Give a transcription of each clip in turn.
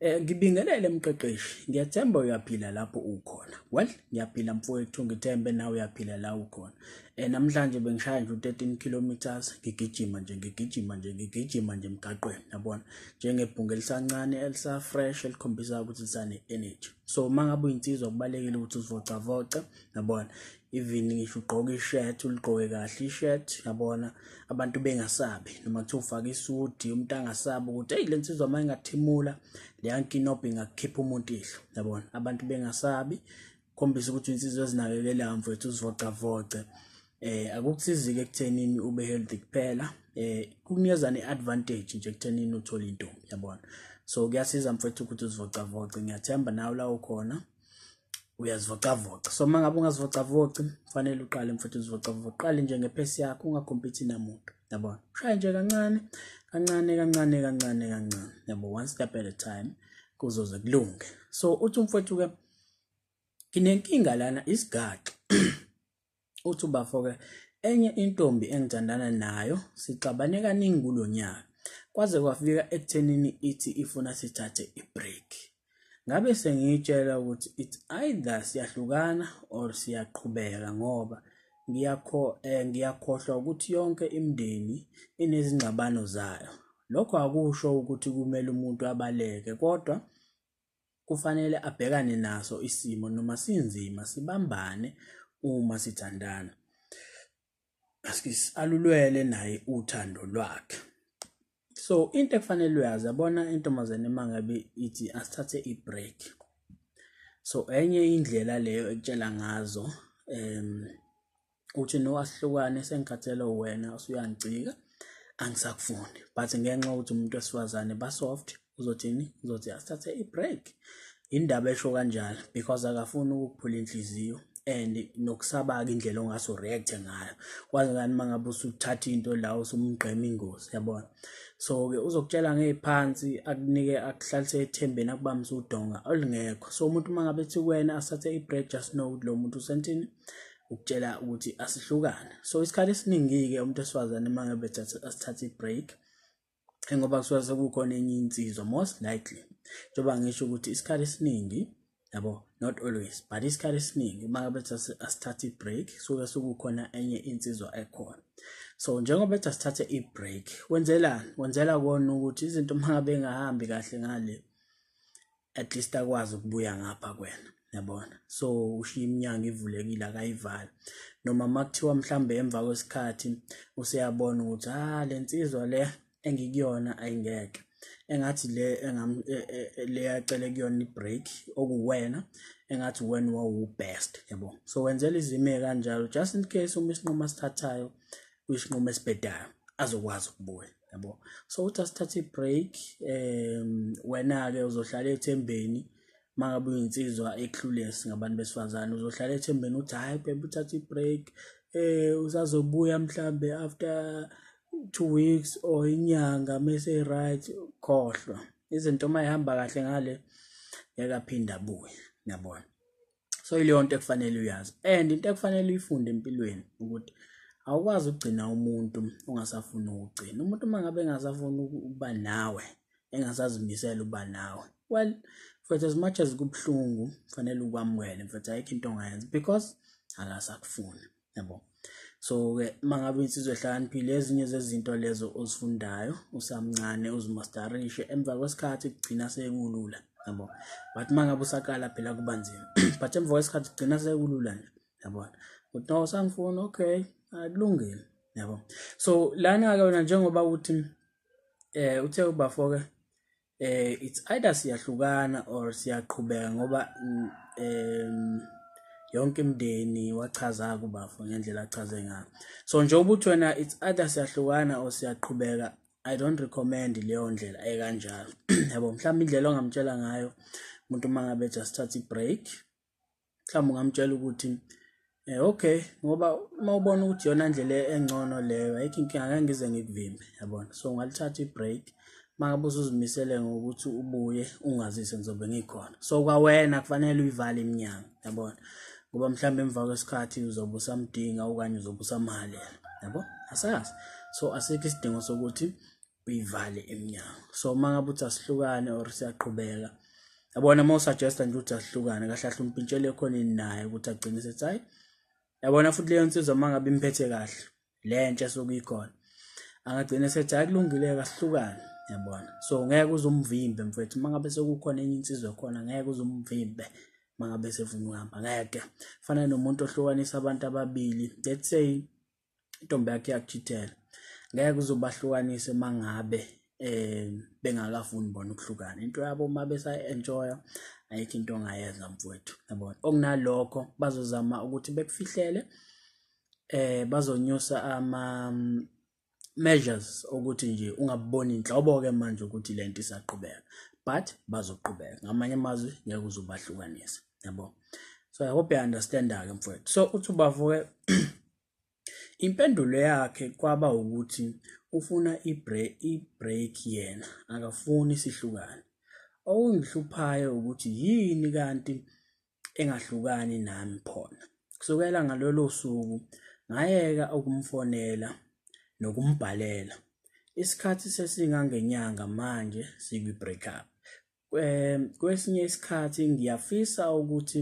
Eh ngibingelele mqeqeshi ngiyathemba uyaphila lapho ukhona well ngiyaphila mfowethu ngithembe nawe uyaphila la ukhona eh namhlanje bengishaya nje 13 kilometers ngigijima nje ngigijima nje ngigijima nje emgaqweni yabona njengebhunga elisancane elisa fresh elikhombisa ukuthi lisane energy so mangabe uyinsizwa kubalekile ukuthi uzivocavoce yabona even ngisho ugqoka ishirt uligqoke kahle ishirt yabona abantu bengasabi noma kuthiwa ufake isudi umuntu angasabi ukuthi eyi le nsizwa uma ingathimula leya nkinobho ingakukhipha umuntu ihlo yabona abantu bengasabi khombisa ukuthi insizwa ezinakekelayo mfethu uzivocavoce eh akukusizike ekuthenini ube healthy kuphela eh kukunikeza ne-advantage nje ekuthenini uthole intombi yabona so kuyasiza mfethu ukuthi uzivocavoce ngiyathemba nawe la ukhona uyazivocavoca so uma ngabe ungazivocavoci kufanele uqale mfuthu uzivocavoca uqale nje ngepesi yakho ungakhompithi namuntu yabona ushaye nje kancane kancane kancane kancane kancane yabo one step at a time kuzoze kulunge so uthi umfowethu-ke nginenkinga lana isigaxa uthi ubafo-ke enye intombi engithandana nayo sixabane kaningi kulo nyaka kwaze kwafika ekuthenini ithi ifuna sithathe i-break ngabe sengiyitshela ukuthi it's either siyahlukana or siyaqhubeka ngoba ngiyakho eh, ngiyakhohlwa ukuthi yonke imindeni inezingxabano zayo lokho akusho ukuthi kumele umuntu abaleke kodwa kufanele abhekane naso isimo noma sinzima sibambane uma sithandana alulwele naye uthando lwakhe so into ekufanele uyazi yabona intombazane mangabe ithi asithathe i-break so enye indlela leyo ekutshela ngazo um uthi no asihlukane sengikhathele wena usuyangicika angisakufuni but ngenxa ukuthi umuntu wesifazane basoft uzothini uzothi asithathe i-break indaba esho kanjalo because akafuni ukuphula inhliziyo and nokusabaka indlela ongase ureact ngayo kwazi ngani mangabe usuthatha into la usumgqema ingozi yabona so ke uzokutshela ngeziphansi akunike akuhlalise ethembeni akubambise udonga olungekho so umuntu mangabe ethi kuwena asathe i-break just know ukuthi lo muntu usentini ukutshela ukuthi asihlukane so isikhathi esiningi-ke umuntu wesifazane uma ngabe asithatha i-break ngoba kusuke sekukhona enye insizwa most likely njengoba ngisho ukuthi isikhathi esiningi yabo not always but isikhathi esiningi uma ngabe asithatha i-break suke sekukhona enye insizwa ekhona so njengoba ethi asithathe i-break wenzelani wenzela kona ukuthi izinto uma ngabe engahambi kahle ngale at least akwazi ukubuya ngapha kwena yabona so ushiya iminyango ivulekile akayivali noma makuthiwa mhlambe emva kwesikhathi useyabona ukuthi ah lensizwa le engikuyona ayingeke engathi le engam e, e, e, le yacele kuyona ibreak okuwena engathi wena wawu best yabo so wenzela izime kanjalo just in case uma isinqumo asithathayo kuyisinqumo esibhedayo azokwazi ukubuya yabo so uthi asithathe i-break um wena-ke uzohlala ethembeni uma ngabe uyinsizwa eclules ngabantu besifazane uzohlala ethembeni uthi hhayi bebe uthathe i-break um usazobuya mhlawumbe after two weeks or inyanga mese right khohlwa izinto uma ihamba kahle ngale ngeke aphinde abuye niyabona so ileyo nto ekufanele uyazi and into ekufanele uyifunde empilweni ukuthi awukwazi ukugcina umuntu ongasafuni ukugcina umuntu uma ngabe engasafuni ukuba nawe engasazimisela uba nawe well mfethu as much as kubuhlungu kufanele ukwamukele mfethu ayikho into ongayenza because akasakufuni yabo so-ke uma ngabe insizwa ehlakaniphile ezinye zezinto lezo ozifundayo usamncane uzimastarishe emva kwesikhathi kugcina sekulula yabo but uma ngabe usaqala phela kuba nzima but emva kwesikhathi kugcina sekulula nje yabona ukuthi no sangifuna okay akulungile yabo so lana-ke wena njengoba uthi um uthe ubafoke eh it's either siyahlukana or siyaqhubeka ngoba mm, em yonke imndeni wachaza kubafo ngendlela achaze ngayo so nje ukuthi wena it's either siyahlukana or siyaqhubeka i don't recommend leyo ndlela ekanjalo yabo mhlawumbe indlela ongamtshela ngayo umuntu uma ngabe just thatha i-break mhlawumbe ungamtshela ukuthi eh okay ngoba uma ubona ukuthi yona ndlela engcono leyo ayikho inkinga ngeke ngize ngikuvimbe yabona so ngalithatha i-break makabe usuzimisele ngokuthi ubuye ungazise ngizobe ngikhona so kwawena kufanele uyivale iminyango yabona ngoba mhlawumbe emva kwesikhathi uzobe usamdinga okanye uzobe usamhalela yabo asazi so asikho isidingo sokuthi uyivale iminyango so uma ngabe uthi asihlukane or siyaqhubeka yabona uma usuggesta nje ukuthi asihlukane kahle kahle umpintshele khona ini naye ukuthi agcine sethi hayi yabona futhi leyo nsizwa uma ngabe imphethe kahle le ntsha sokuyikhona angagcina sethi hayi kulungile kasihlukane yabona so ngeke uzumvimbe mfethu uma ngabe sekukhona enye insizwa khona ngeke uzumvimbe uma ngabe sefuna ukuhamba ngeke fana nomuntu ohlukanisa abantu ababili let's say intombi yakhe iyakuchithela ngeke kuzobahlukanise mangabe eh bengakafuni bona ukuhlukana into yabo uma besa enjoya ayikho into ongayenza mfowethu yabona okunalokho bazozama ukuthi bekufihlele eh bazonyusa ama mm, measures ukuthi nje ungaboni inhlobo ke manje ukuthi lento isaqhubeka but bazoqhubeka ngamanye amazwi ngeke uzobahlukanisa yabo so i hope you understand ke mfowethu so uthi ubavuke Impendulo yakhe kwaba ukuthi ufuna i-break yena akafuni sihlukane. Okungihluphayo ukuthi yini kanti engahlukani nami khona. Kusukela ngalolo suku ngayeka ukumfonela nokumbhalela. Isikhathi sesingangenyanga manje sikwi-break up. um kwesinye isikhathi ngiyafisa ukuthi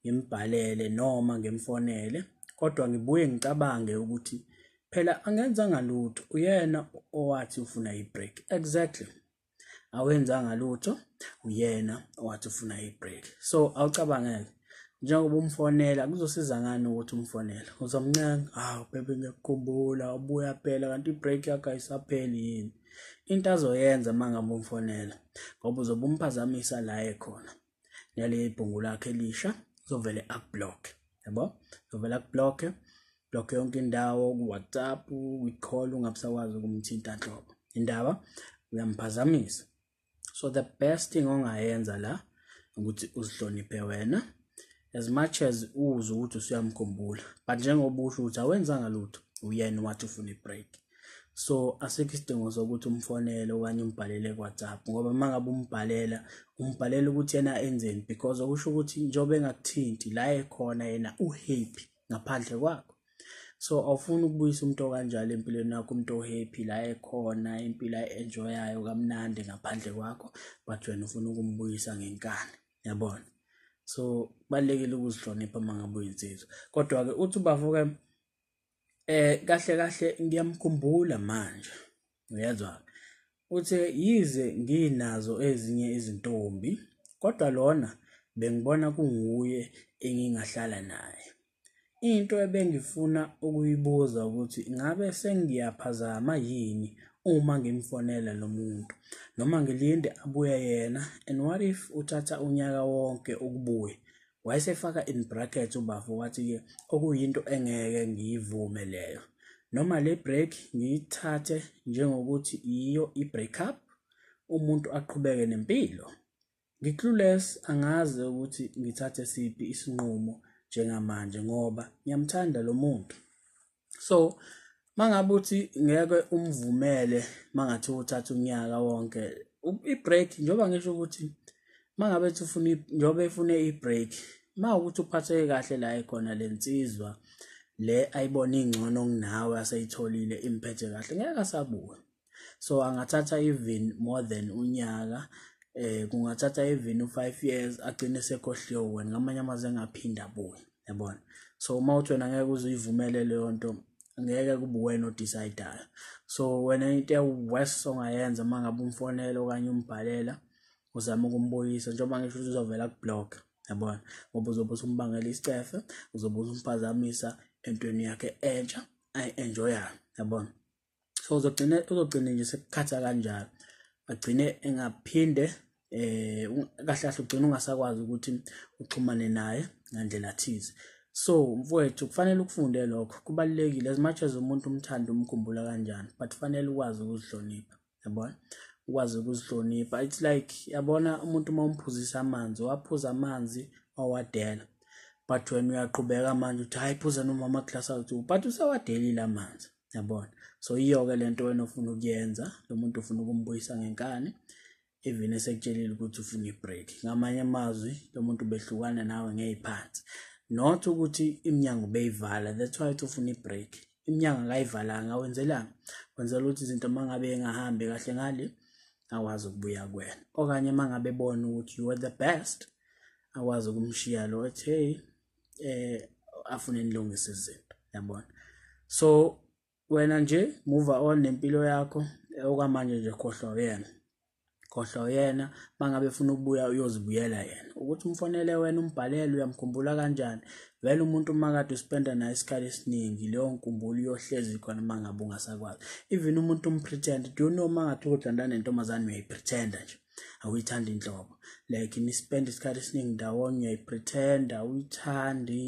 ngimbhalele noma ngimfonele kodwa ngibuye ngicabange ukuthi phela angenzanga lutho uyena owathi ufuna i-break exactly awenzanga lutho uyena owathi ufuna i-break so awucabangeke njengoba umfonela kuzosiza ngani ukuthi umfonele uzomncenga hawu bebe ngiyakukhumbula ubuya phela kanti i-break yakho ayisapheli yini into azoyenza uma ngabe umfonela ngoba uzobe umphazamisa la ekhona nale ibhungu lakhe elisha uzovele akublock yabo uzovele akublock block yonke indawo ku-whatsapp kwi-call ungabusakwazi ukumthinta nhlobo indaba uyamphazamisa so the best thing ongayenza la ukuthi uzihloniphe wena as much as uze ukuthi usuyamkhumbula but njengoba usho ukuthi awenzanga lutho uyena wathi ufuna i-break so asikho isidingo sokuthi umfonele okanye umbhalele ku-whatsapp ngoba uma ngabe umbhalela umbhalela ukuthi yena enzeni because okusho ukuthi njengoba engakuthinti la ekhona yena uhappy ngaphandle kwakho so awufuni ukubuyisa umuntu okanjalo empilweni yakho umuntu ohappy la ekhona impilo ayi-enjoyayo kamnandi ngaphandle kwakho but wena ufuna ukumbuyisa ngenkani yabona so kubalulekile ukuzihlonipha uma ngabe uyinsizwa kodwa-ke uthi ubavuke um eh, kahle kahle ngiyamkhumbula manje uyezwa uthe yize nginazo ezinye izintombi kodwa lona bengibona kunguye engingahlala naye into ebengifuna ukuyibuza ukuthi ngabe sengiyaphazama yini uma ngimfonela lo muntu noma ngilinde abuye yena and what if uthatha unyaka wonke ukubuya Wayesefaka in brackets ubafo wathi-ke okuyinto engeke ngiyivume leyo. Noma le break ngiyithathe njengokuthi yiyo i-break up, umuntu aqhubeke nempilo. Ngi-clueless angazi ukuthi ngithathe siphi isinqumo njengamanje ngoba ngiyamthanda lo muntu. so mangabe uthi ngeke umvumele mangathi uthatha unyaka wonke i-break njengoba ngisho ukuthi mangabe ethi ufuna njengoba efune i-break ma ukuthi uphatheke kahle la ekhona le nsizwa le ayibona ingcono kunawe aseyitholile imphethe kahle ngeke asabuke so angathatha even more than unyaka eh kungathatha even u5 years agcine sekhohliwe wena ngamanye amazwi engaphinda buye yabona so uma uthi wena ngeke uzuyivumele leyo nto ngeke kube wena odecidayo so wena into ewest ongayenza uma ngabe umfonela okanye umbhalela uzama ukumbuyisa njengoba ngisho ukuthi uzovela kublock yabona ngoba uzobe usumbangela isicefe uzobe usumpazamisa entweni yakhe entsha ayi-enjoyayo yabona so uzogcina uzogcina nje sekukhatha kanjalo agcine engaphinde eh kahle kahle ugcina ungasakwazi ukuthi uxhumane naye ngandlela thize so mfowethu kufanele ukufunde lokho kubalekile as much as umuntu umthanda umkhumbula kanjani but kufanele ukwazi ukuzihlonipha yabona ukwazi ukuzihlonipha it's like yabona umuntu uma umphuzisa amanzi waphuza amanzi wawadela but wena uyaqhubeka manje uthi hayi phuza nomama class awuthu but usewadelile amanzi yabona so iyoke lento wena ufuna ukuyenza lo muntu ufuna ukumbuyisa ngenkani even esekutshelile ukuthi ufuna ibreak ngamanye amazwi lo muntu behlukana nawe ngeyiphansi not ukuthi iminyango beyivala that's why uthi ufuna ibreak iminyango akayivalanga wenzelani wenzela ukuthi izinto mangabe engahambi kahle ngale akwazi ukubuya kwena okanye mangabe ebona ukuthi you are the best akwazi ukumshiya lo ethi hey eh afune nilungise izinto yabona so wena nje move on nempilo yakho eh, okwamanje nje khohlwa uyena khohlwa uyena mangabe funa ukubuya uyozibuyela yena ukuthi umfonele wena umbhalele uyamkhumbula kanjani vele umuntu umakade uspenda naye isikhathi esiningi leyo nkumbulo uyohlezi khona uma ngabe ungasakwazi even umuntu umpretend do you know uma ngathi ukodlantana nentombazane uyayipretenda nje awuyithandi inhlobo like nispenda isikhathi esiningi ndawonye uyayipretenda awuyithandi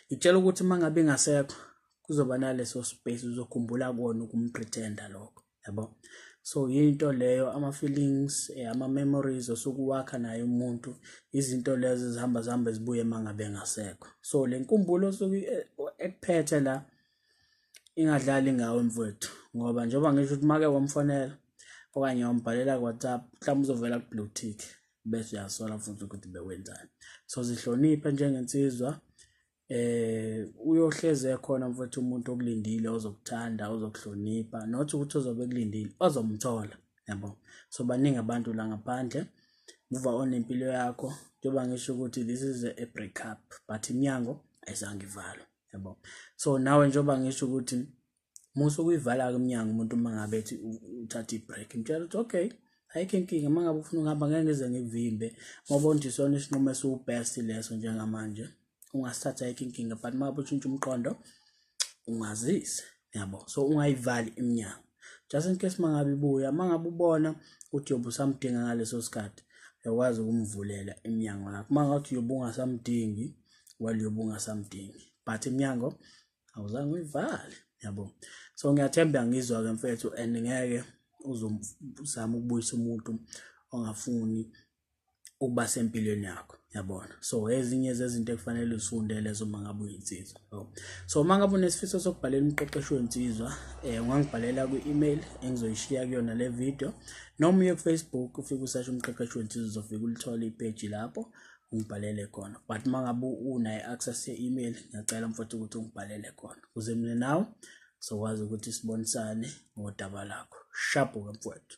ngitshela ukuthi uma ngabe ingasekho kuzoba naleso space uzokhumbula kona ukumpretenda lokho yabo so yinto leyo ama-feelings eh, ama-memories osuke uwakha naye umuntu izinto lezo ezihamba zihamba zibuye uma ngabe engasekho so le nkumbulo osuke eh, ekuphethe la ingadlali ngawe mfowethu ngoba njengoba ngisho ukuthi make wamfonela okanye wambhalela ku-whatsapp mhlawumbe uzovela ku-blue tick bese uyasola futhi ukuthi bewenzani so zihloniphe njengensizwa eh uyohleze khona mfowethu umuntu okulindile ozokuthanda ozokuhlonipha not ukuthi ozobe kulindile ozomthola yabo so baningi abantu la ngaphandle muva on impilo yakho njengoba ngisho ukuthi this is a break up but iminyango ayizange ivalwe yabo so nawe njengoba ngisho ukuthi musa ukuyivala-ke umnyango umuntu uma ngabe ethi uthatha i-break mtshela ukuthi okay ayikho inkinga uma ngabe ufuna ukuhamba ngeke ngize ngivimbe ngoba ondisona isinqumo esiwu-best leso njengamanje ungasithatha ayikho inkinga but uma ngabe utshintsha umqondo ungazise yabo so ungayivali iminyango just in case mangabe ibuya mangabe ubona ukuthi yobe usamdinga ngaleso sikhathi uyakwazi ukumvulela iminyango yakho mangathi yobe ungasamdingi well yobe ungasamdingi but iminyango awuzange uyivale yabo so ngiyathemba ngizwa-ke mfethu and ngeke uzozama ukubuyisa umuntu ongafuni ukuba sempilweni yakho yabona so ezinye zezinto ekufanele uzifunde lezo uma ngabe uyinsizwa so uma ngabe unesifiso sokubhalela umqeqeshi wensizwa um ungangibhalela kwi-email engizoyishiya kuyona le video noma uye kufacebook ufike usasho umqeqeshi wensizwa uzofike ulithole ipeji lapho ungibhalele khona but uma ngabe unayo i-access ye-email ngiyacela mfowethu ukuthi ungibhalele khona kuze mina nawe sokwazi ukuthi sibonisane ngodaba lakho shabuka mfowethu